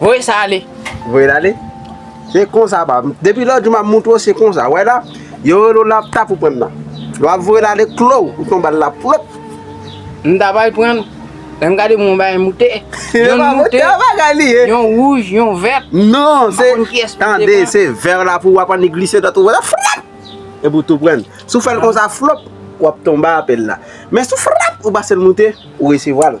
Voye sa ale. Voye l ale. Se konsa ba. Depi lòt jou m ap montre w se konsa. Wè la, yo rele w la pou ta pou pran nan. Lè w ap voye l ale klo ou tonbe al la pwop. M ta bay pran l. Lè m gade moun bay yon moute. Yon moute. Yon wouj, yon vèt. Non, se. Tande, se vè w la pou w ap an ni glise dòt ou wè la frap. E pou tou pran. Si w fè l konsa flop, w ap tonbe apèl la. Men si w frap, ou pase l moute, ou resevwa l.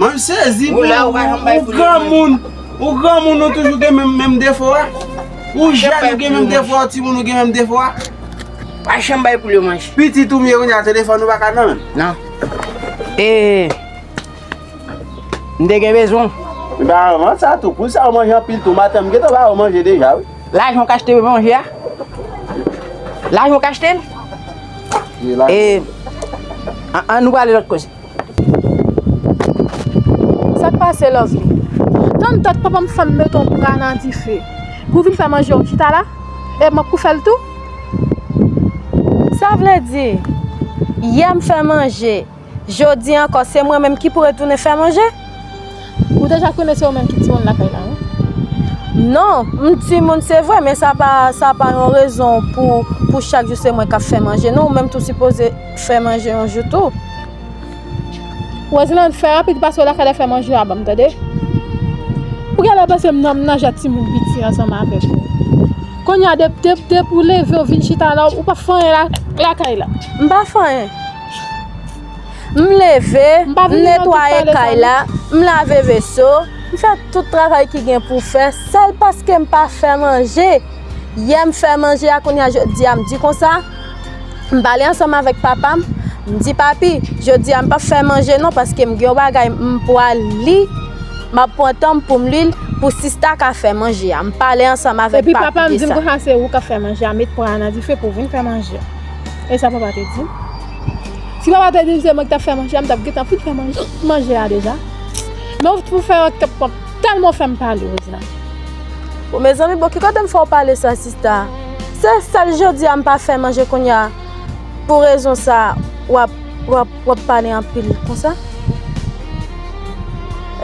Mwen sezi pou ou gran moun Ou gran moun ou toujou gen menm defo a Ou jen ou gen menm defo a Ou ti moun ou gen menm defo a Pitit ou mwen a telefon ou baka nan men Eee Mwen te gen bezwen Mwen te gen bezwen Mwen te gen bezwen Lajan w k achte manje a? Lajan w k achte l? E, an nou prale lòt koze. Sa k pase Lovely? Tann tann papa m fè m mete yon bra nan dife pou w vin fè manje w chita la? E mwen k pou fè l tou? Sa vle di, yè m fè manje. Jodi a ankò se mwen menm ki pou retounen fè manje? Ou deja konnen se ou menm ki timoun lakay la wi. Non, m timoun se vre men sa pa yon rezon pou chak jou se mwen k ap fè manje non, ou menm tou sipoze fè manje yon jou tou. Roselande, fè rapid pase w lakay la fè manje a ban m tande. Ou gen lè panse m nan m nan jè timoun piti ansanm avèk ou. Kounya depi ou leve ou vin chita la ou pa fè anyen lakay la. M pa fè anyen. M leve, m netwaye kay la, m lave veso, m fè tout travay ki gen pou fè, sèl paske m pa fè manje. Yè m fè manje a, kounye a jodi a m di konsa, m pale ansanm avèk papa m, m di papi, jodi a m pap fè manje non paske m gen yon bagay m pral li, m ap pran tan m pou m li l, pou sista ka fè manje a. M pale ansanm avèk papi de sa. Epi papa m di m konsa se ou k ap fè manje a, met pwa a nan dife pou w vin fè manje a. E sa papa te di m. Si papa te di m se mwen ki t ap fè manje a, m t ap gentan fin fè manje a deja. Men w toujou fè ank tankou tèlman w fè m pale Rouzna. Bon mezanmi, bon ki kote m fè w pale sa sista? Se sèl jodi a m pa fè manje kounya pou rezon sa w ap. Wap pale anpil konsa?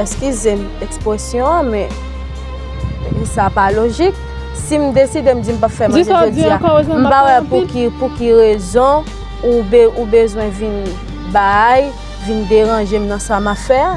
Eskizem ekspresyon an men sa pa lojik. Sim deside m di m pap fè manje jodi a, m pa wè pou ki rezon ou bezwen vin bay, vin deranje m nan sa map fè a.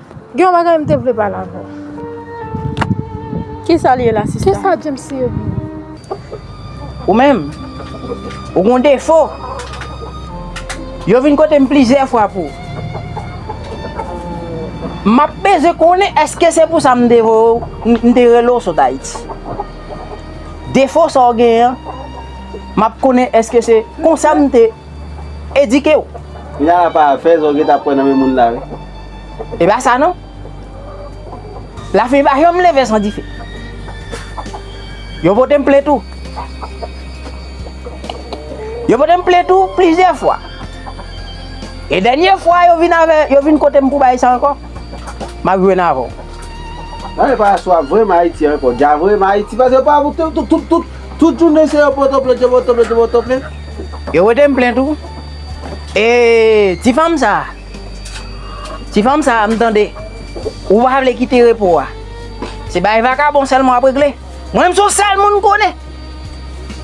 Gen yon bagay m te vle pale avè w. Kisa li ye la sista? Kisa James ye vre? Ou menm, ou gen yon defo. Yo vin kote m plizyè fwa pou. M ap bezwen konnen èske se pou sa m te voye w, m te rele w sot Ayiti. Defo sa w genyen an, m ap konnen èske se konsa m te. Edike w. Kounya la pa afè sa w gentan ap pran nan men moun la wi. E pa sa non. Lafanmi pa janm leve san dife. Yo pote m plent ou. Yo pote m plent ou plizyè fwa. E dènye fwa yo vin avè, yo vin kote m pou bay sa ankò. M ap jwenn avè w. Nan e pa aswa vrèman Ayiti ankò. Dja vrèman Ayiti pase pa pou tout, tout, tout. Tout jounen se yo poto plen, te poto plen, te poto plen. Yo wete m plen tou. E ti fanm sa a, ti fanm sa a m tande ou pa vle kite repo a. Se bay vakabon sèlman w ap regle. Mwen m se yon sèl moun m konnen.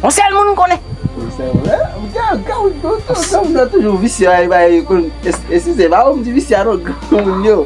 Yon sèl moun m konnen. Se vre? Granmoun yo toujou visye. E si se pa ou m di visye a non granmoun yo.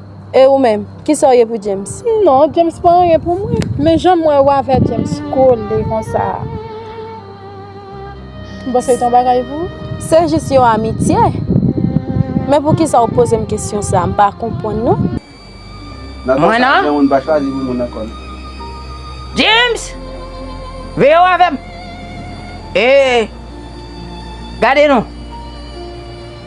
E ou menm, kisa w ye pou James? Non, James pa anyen pou mwen. Men jan m wè ou avè James kole konsa. M panse l t yon bagay pou ou. Se jis yon amitye. Men poukisa ou poze m kesyon sa a? M pa konprann non. Nan tan sa a, gen moun pa chwazi pou moun nan kò l. James! Veye w avè m! E! Gade non!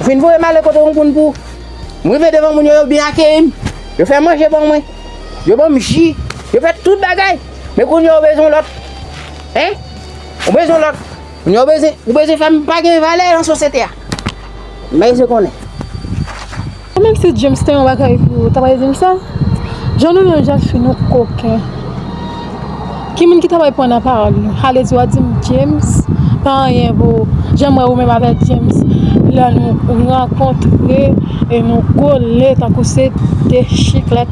Ou fin voye m ale kote yon moun pou m rive devan moun yo, yo byen akeyi m, yo fè manje ban mwen, yo ban m ji, yo fè tout bagay. Men kounye a ou bezwen lòt. Hein? Ou bezwen lòt. Kounye a ou bezwen, ou bezwen fè m pa gen valè nan sosyete a. Mèsi konnen. Ou menm si James te yon bagay pou ou, ou ta pral di m sa? Jan nou yon jan fi nou koken. Ki moun ki ta pral pran nan pawòl nou? Ale di w a di m James pa anyen pou ou. Jan m wè ou menm avèk James lè nou rankontre e nou kole tankou se 2 chiklèt.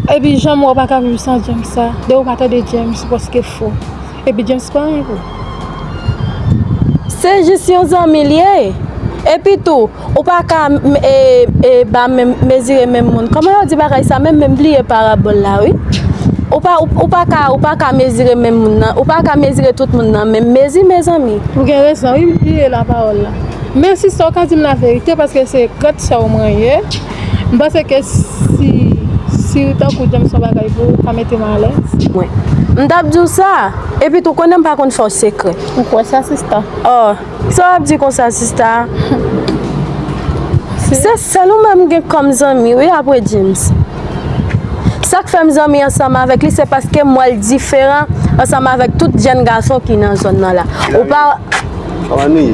Epi jan m wè ou pa ka viv san James sa. Depi ou pa tande James ou prèske fou. Epi James pa anyen pou ou. Se jis yon zanmi l ye. Epi tou, ou pa ka mezire menm moun. Kòman yo di bagay sa menm? M bliye parabòl la wi. Ou pa ka mezire menm moun nan. Ou pa ka mezire tout moun nan menm mezi mezanmi. Ou gen rezon wi, m bliye la pawòl la. Men sista ou ka di m laverite paske se grann sè w mwen ye. M panse ke si si ou tankou James son bagay pou ou ka mete m alèz. Mwen. M t ap di w sa. Epi tou konnen m pa konn fè w sekrè. Ou kwè sa sista? Oh, sa w ap di konsa sista? Se sèl ou menm m gen kòm zanmi wi apre James. Sa k fè m zanmi ansanm avèk li se paske m wè l diferan ansanm avèk tout jenn gason ki nan zòn nan la. Ou pa. Kòman nou ye?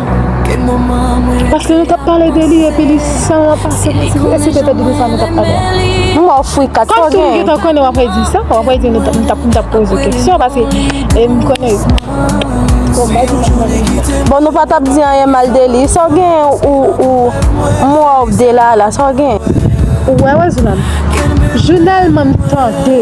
Paske nou tap pale de li epi li san an pase pou si e se te tèt de sa nou tap pale a. M ba w fwi 4 Kòm si m gen tan konnen w ap re di sa, w ap re di nou m tap m tap poze keksyon paske e m konnen Bon m ba di sa m konnen di sa. Bon nou pa tap di anyen mal de li, sa w gen ou ou m wè w ap delala sa w gen? Ou wè wè jounal m? Jounal m an m tande.